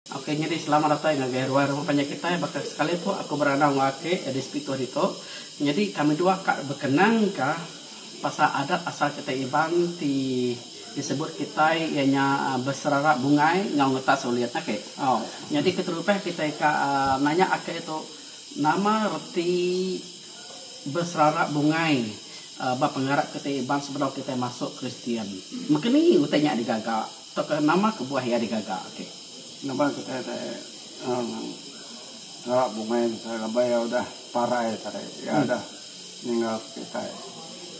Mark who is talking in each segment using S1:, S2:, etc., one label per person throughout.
S1: Okey nyadi selamat datai ngagai ruai rumah panjai kitai baka sekali pun aku berandau enggau ati di Sepikau ditu nyadi kami dua ka bekenangka pasal adat asal kitai Iban ti disebut kitai iya nya beserara bungai enggau ngetas ulit okey nyadi keterubah kitai ka nanya ake tu nama reti beserara bungai ba pengarap kitai Iban sebedau kitai masuk Kristian mekeni utai nya digaga. Tauka nama kebuah iya digaga agi? Nama kitai
S2: ti ngera bungei kitai laban iya udah parai tadi. Iya udah ninggalka kitai.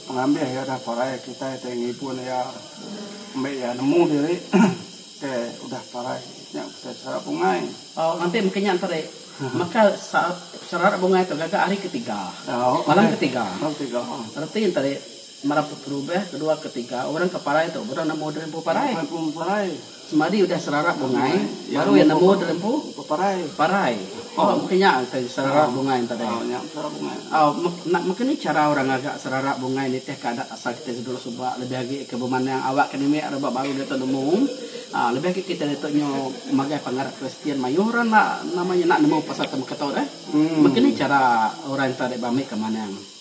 S2: Pengambih iya udah parai, kitai ti ngibun iya ambi iya nemu diri ke udah parai. Nya kitai sera bungei. Au, lantik mega nya
S1: tadi. Maka sera bungei tu gaga hari ketiga. Malam ketiga. Reti nya tadi. Mara perubah kedua ketiga, orang ke parai tu udah nemu diri empu parai. Semadi udah serarap bungai, baru iya nemu diri empu parai. Tau meh nya ke serarap bungai enti hari ini. Au, enda meh ke ni chara orang ngaga serarap bungai nitih ke adat asal kitai sedulah suba lebih agi ke bemandang awak ke nindi rebak baru diatu nemu. Au, lebih agi kitai diatu nyu magai pengarap Kristian mayuh orang enda nama nya enda nemu pasal temeka tu deh. Meh ke ni chara orang enti hari ini be ambi ke manang.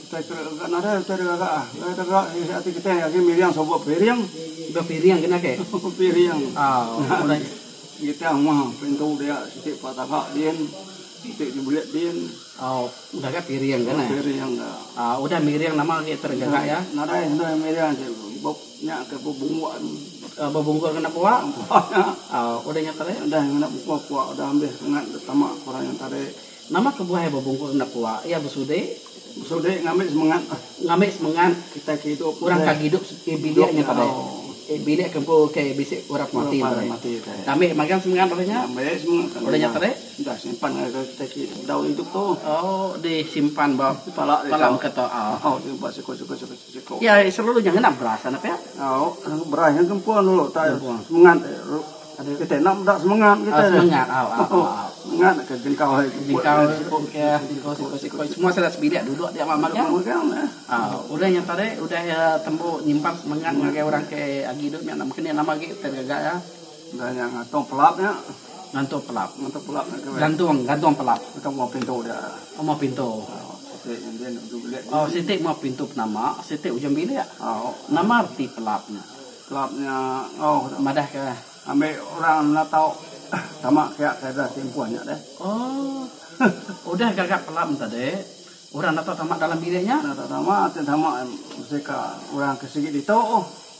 S1: Utai ke ga
S2: nadai utai deka ga ah. Utai deka ga isi ati kitai agi miring suba piring. Suba piring kena
S1: ke. piring. Au. Kita rumah
S2: pintu dia siti pa taga din. Siti di bulik din. Au udah ga
S1: piring kena. Udah piring ga. Au
S2: udah miring
S1: nama lagi utai deka ga ya. Nadai udah miring
S2: ati ba nya ke ba bungkuk anu. Ba
S1: bungkuk ngena pua. Au udah nya tadi. Udah ngena pua pua
S2: udah ambis ngan tama orang yang tadi. Nama kebuah iya
S1: bebungkus enda pua? Iya besudi. Besudi ngambi
S2: semengat. Ngambi semengat. Kitai ke idup.
S1: Orang ke agi idup ke bilik nya padai. Ke bilik ke empu ke bisi orang mati padai. Ngambi magang semengat lalu nya. Ngambi semengat lalu nya tadi. Dah simpan ngagai
S2: kitai ke dau idup tu. Oh disimpan
S1: ba pala kita. Simpan ba siko-siko.
S2: Iya ari selalu nya ngena
S1: beras anak pia. Au beras nya
S2: gempung dulu utai semengat kitai enda meda semengat kitai. Semengat au au au au. Semengat naka jengkau hai siput. Jengkau siput ke jengkau
S1: siput siput semua sida sebilik duduk dia mama megang. Au udah nya tadi udah tembu nyimpan semengat ngagai orang ke agi duduk nya enda mekeni lama agi kita gaga iya. Enda nya ngantung
S2: pelap nya. Ngantung pelap.
S1: Ngantung pelap nya ke. Gantung, gantung pelap. Atau mau pintu dia.
S2: Oh, mau pintu.
S1: Oh, siti ngambil ujung bilik. Oh, siti mau pintu penama, siti ujung bilik. Oh. Nama reti pelap nya? Pelap nya oh madah ke ambil orang
S2: menatau tama kia ke dah timpuh nya deh. Oh.
S1: Udah gaga pelap tadi, orang natau tama dalam bilik nya? Natau tama, tama
S2: mesti ka orang ke sigi ditu.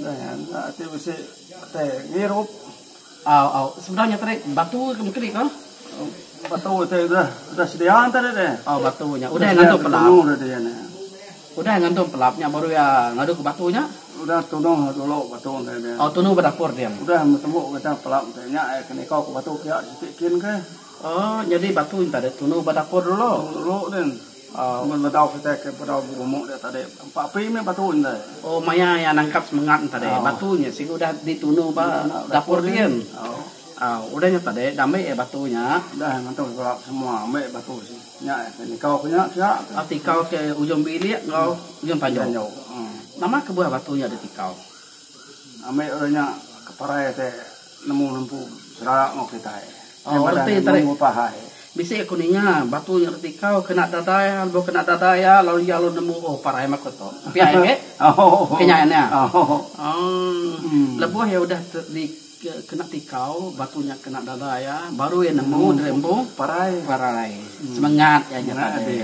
S1: Neh enda ti
S2: bisi te ngirup. Au au
S1: sebenar nya tadi batu ke mengkeri ko. Batu
S2: te udah udah sedia tadi te. Oh batu nya udah
S1: ngantum pelap. Udah sedia tadi nya. Udah ngantum pelap nya baru iya ngadu ke batu nya. Udah
S2: tunuh dulu batu te nya. Oh tunuh ba dapur dia.
S1: Udah betemu kita
S2: pelap te nya iya ke niko ke batu pia siti kin ke. Oh nyadi
S1: batu nya tadi tunuh ba dapur dulu. Dulu din.
S2: Mun bedau kitai ke bedau berumuk dia tadi empa api meh batu indai. Oh maya iya
S1: nangkap semengat nya tadi batu nya siku udah ditunu ba dapur din. Au udah nya tadi dah ambi iya batu nya. Dah iya ngentung ke rak
S2: semua ambi batu sini. Nya iya ke nikau ke nya pia ke. Tikau ke
S1: ujung bilik enggau ujung tanjau. Nama kebuah batu nya ditikau? Ambi
S2: udah nya ke parai te. Nemu lempu serak enggau kitai. Tang badan
S1: iya meri upah hai. Bisi
S2: aku ninga
S1: batu nya reti kau kena dadai iya lebuh kena dadai iya lalu iya lalu nemu oh parai meh aku tu. Pia iya meh. Ke nya iya. Umm lebuh iya udah di kena tikau batu nya kena dadai iya baru iya nemu diri empu parai. Semengat iya nya tadi.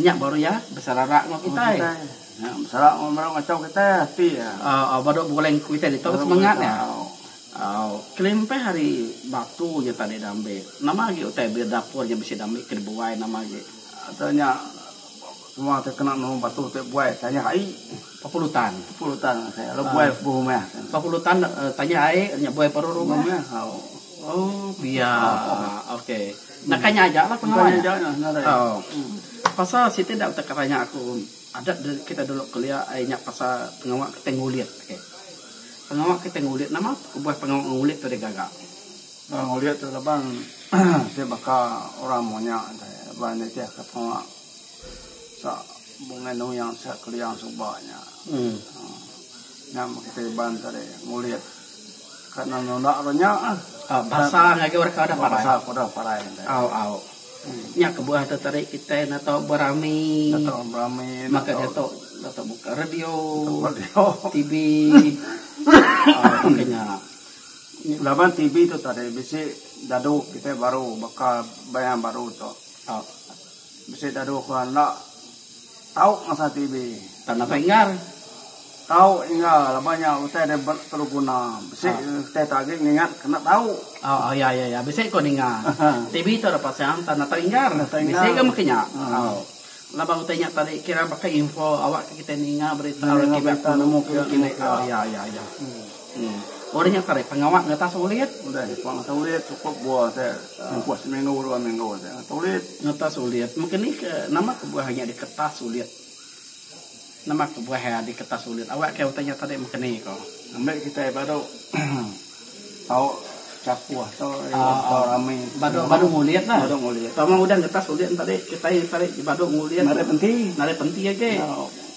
S1: Nya baru iya besararak enggau kitai. Nya besara
S2: meh baru ngachau kitai ati iya. Au baru begulai ngaku
S1: kitai ditu ke semengat iya. Au kelimpah hari batu nya tadi diambi. Nama agi utai bilik dapur nya bisi diambi ke dibuai nama agi. Utai nya
S2: semua ti kena nulung batu ti buai tanyah ai. Bepulu tan.
S1: Bepulu tan masih
S2: lalu buai ke sebuah rumah. Bepulu tan
S1: tanyah ai nya buai paru rumah. Au pia. Okey. Nakanya aja lah pengawa nya. Nakanya aja nah ngarai. Au. Pasal siti enda utai kereja aku. Adat kita dulu kelia ai nya pasal pengawa kitai ngulit. Okay. Pengawa kitai ngulit nama kebuah pengawa ngulit tu deh gaga. Pengawa ngulit
S2: tu laban ti baka orang monya deh ba nitih ka pengawa sa bungai nuing sa kelia suba nya. Nya kitai iban tadi ngulit. Ka nang nunda ro nya ah. Au basa ngagai
S1: orang ke udah parai. Basa ke udah parai.
S2: Au au.
S1: Nya kebuah te tadi kitai neto berami. Neto berami. Maka diatu neto buka radio. Radio. TV. Au nya. Laban
S2: TV tu tadi bisi dadu kitai baru baka band baru tu. Au. Bisi dadu ke enda tau ngasa TV. Tang datai
S1: enggau. Tau
S2: enggau laban nya utai dia perlu guna. Bisi utai tu agi ngingat ke enda tau. Oh oh ya ya ya bisi
S1: ko ninga. TV tu dipasang tang datai enggau. Bisi ga meka nya. Oh. Laban utai nya tadi kira baka info awak ke kitai ninga berita. Ninga berita nemu ke. Oh ya ya ya. Udah nya tadi pengawa ngetas ulit. Udah nya pengawa ngetas ulit
S2: cukup buah te nempuh seminggu dua minggu te ngetas ulit. Ngetas ulit
S1: mungkin ni ke nama ke buah nya diketas ulit. Nama ke buah iya diketas ulit awak ke utai nya tadi mungkin ni ko. Ambi kitai badu
S2: tau chakuh tu tau rami. Badu badu ngulit la.
S1: Badu ngulit. Tama udah ngetas ulit tadi kitai tadi badu ngulit. Narit penti. Narit
S2: penti agi.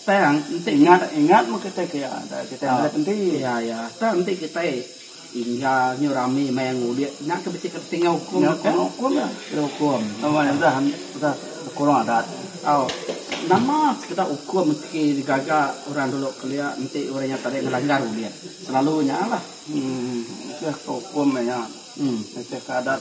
S1: Tang enti ingat ingat meh
S2: kitai ke iya dah kitai meh enti tang enti
S1: kitai inga nyu rami maya ngudi nya ke bisi ke tinggal ukum nya ke kena ukum kurang adat tau nama sekeda ukum ti digaga orang dulu kelia enti orang nya tadi ngelanggar udip selalu nya lah nitihka
S2: ukum nya nitihka adat.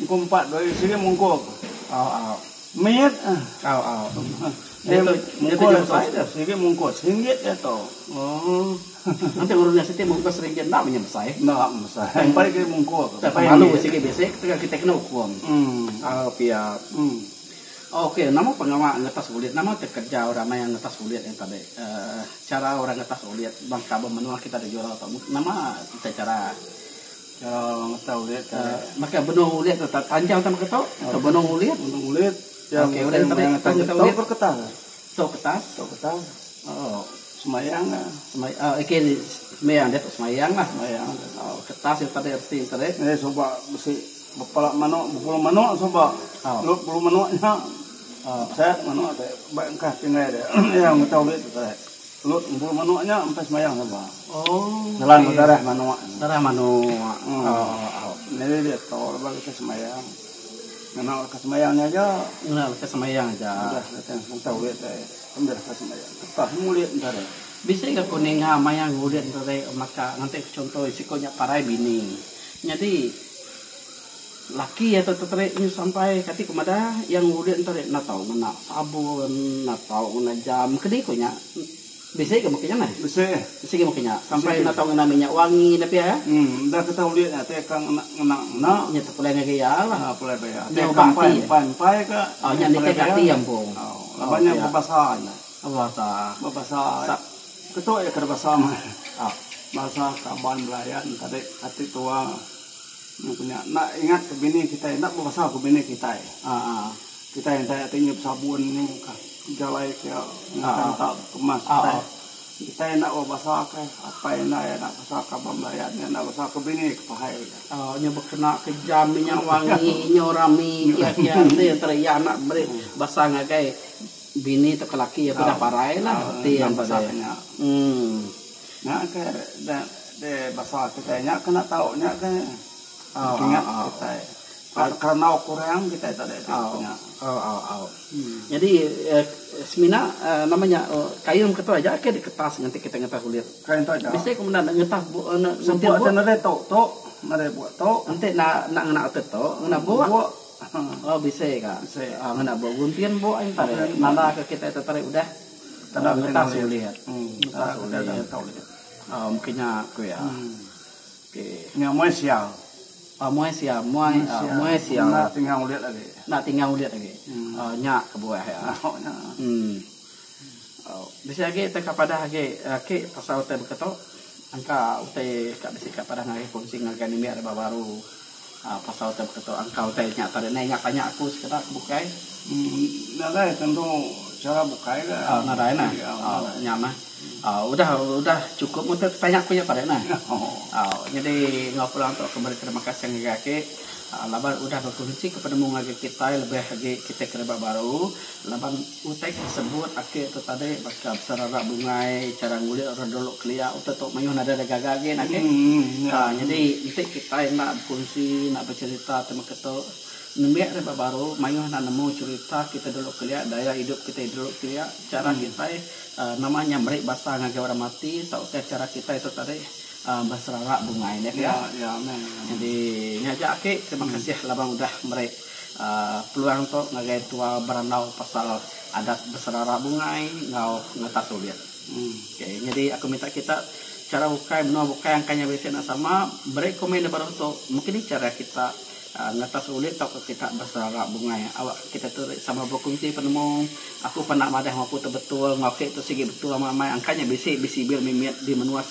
S1: Engku empat dua isi dia mungkup. Au au. Mit. Au au. Dia tu mungkup dia tu. Dia sigi mungkup. Seringgit dia tu. Oh. Nanti ngurung dia siti mungkup seringgit enda punya besai. Enda besai. Tang
S2: pai dia mungkup. Tang pai malu sigi bisi
S1: tang kita kena ukum. Hmm. Au pia. Hmm. Ok nama pengawa ngetas ulit nama ti kerja orang maya ngetas ulit nya tadi. Uh cara orang ngetas ulit bangka ba menua kita di Jurau tu nama ti cara. Makai benung ulit tu tanjau sama ketu atau benung ulit. Benung ulit Okey udah ngetau ulit ngetau ulit. Tokor ketal. Tok ketal. Tok ketal. Oh
S2: semayang ah. Semayang ah okey ni
S1: semayang dia tok semayang lah. Semayang. Oh ketal sida tadi reti ente deh. Eh suba besi
S2: bepala manok bepulu manok suba. Oh. Lu bepulu manok nya. Oh. Set manok te ba engkah tinggai dia. Iya ngetau ulit tu te. Lut empu manok nya empai semayang saja. Nelan ba darah manok. Darah manok. Nyadi dia tau laban leka semayang. Ngena leka semayang nya aja. Ngena leka semayang
S1: aja. Udah leka
S2: ngentau ulih deh. Ambil leka semayang. Ketah mung ulih enda deh. Bisi ga ku
S1: ninga maya ngulih enda deh maka ngatik ku chunto siko nya parai bini. Nyadi. Laki iya tu teterik nyu sampai kati ke madah iya ngulit ento ri enda tau ngena sabun, enda tau ngena jam. Keni ku nya bisi ga meka nya neh. Bisi ga. Bisi ga meka nya. Sampai enda tau ngena minyak wangi nya pia eh. Em enda ke tau ulit nya
S2: teka ngena ngena ngena. Nya tu pulai ngagai iya
S1: lah. Nya pulai ba iya. Nya uba
S2: ati. Empai
S1: empai ga.
S2: Au nya nitih ka ati
S1: empu. Laban nya bebasa
S2: nya.
S1: Bebasa. Bebasa.
S2: Ketu iya kada basa meh. Au. Basa
S1: Kaban
S2: Belayan tadi kati tua. Nya ku nya enda ingat ke bini kitai enda bebasah ku bini kitai. Kitai enti ati nyiup sabun nya mungkah jalai ke ngetan ka kemas kitai. Kitai enda bebasah ke apai enda iya enda bebasah ke aba belayan iya enda bebasah ke bini ke pahai ku iya. Nya bekena
S1: ke jam inya wangi nyu rami kia kia enti entara iya anak meri basa ngagai bini tauka laki iya ke udah parai lah enti iya basa ke nya.
S2: Nya ke de basa kitai nya ke enda tau nya ke ingat kitai kerna kurang kitai tada iti bup nya.
S1: Nyadi semina nama nya kain ketu aja ke diketas nganti kitai ngetah bulit. Kain tu aja. Bisi kemudah
S2: enda ngetah bup
S1: enda sentir bup. Sentir
S2: bup tu tu ngagai bup tu. Enti enda enda ngena
S1: utai tu ngena bup. Oh bisi ka. Bisi. Ngena bup guntin bup ai nta re nanda ke kitai tetarik udah. Tang ngetas ulit. Ngetas ulit. Au meh kinya ku iya. Okey. Nya muai sia.
S2: Au muai sia.
S1: Muai sia. Muai sia.
S2: Enda tinggal ulit lagi. Enda tinggal ulit lagi. Au nya
S1: kebuah iya. Au nya. Em. Au. Bisi agi te ka padah agi aki pasal utai baka tu. Engka utai ka bisi ka padah ngagai kunsi ngagai nini ari ba baru. Pasal utai baka tu engka utai nya tadi neh ingat tanya aku sekeda ke bukai. Nadai
S2: tentu chara bukai ga. Oh nadai neh. Oh
S1: nya neh. Oh udah udah chukup meh utai tanya aku nya tadi neh. Oh nyadi enggau pulang tu aku meri terima kasih ngagai agi laban udah bekunsi ke penemu ngagai kitai lebih agi kitai ke rimba baru laban. Utai ke disebut ake tu tadi baka pesara rak bungai, chara ngulik orang dulu kelia utai tu mayuh nadai da gaga agi enda agi. Aa nyadi enti kitai enda bekunsi enda becerita ti meka tu nembiak ri ba baru mayuh enda nemu cerita kitai dulu kelia gaya idup kitai dulu kelia chara kitai aa nama nya meri basa ngagai orang mati tauka chara kitai tu tadi aa beserara bungai enda agi. Jadi nya aja ake terima kasih laban udah meri. Peluang tu ngagai tua berandau pasal adat beserara bungai enggau ngetas ulit. Okay nyadi aku minta kita chara ukai menua bukai angkai nya bisi enda sama beri komen da baruh tu mungkin nih chara kita ngetas ulit tauka kita beserara bungai awak kita tu sama berkongsi penemu aku pernah madah enggau aku tu betul enggau ke tu sigi betul amai amai angkai nya bisi bisi bir mimit di menua.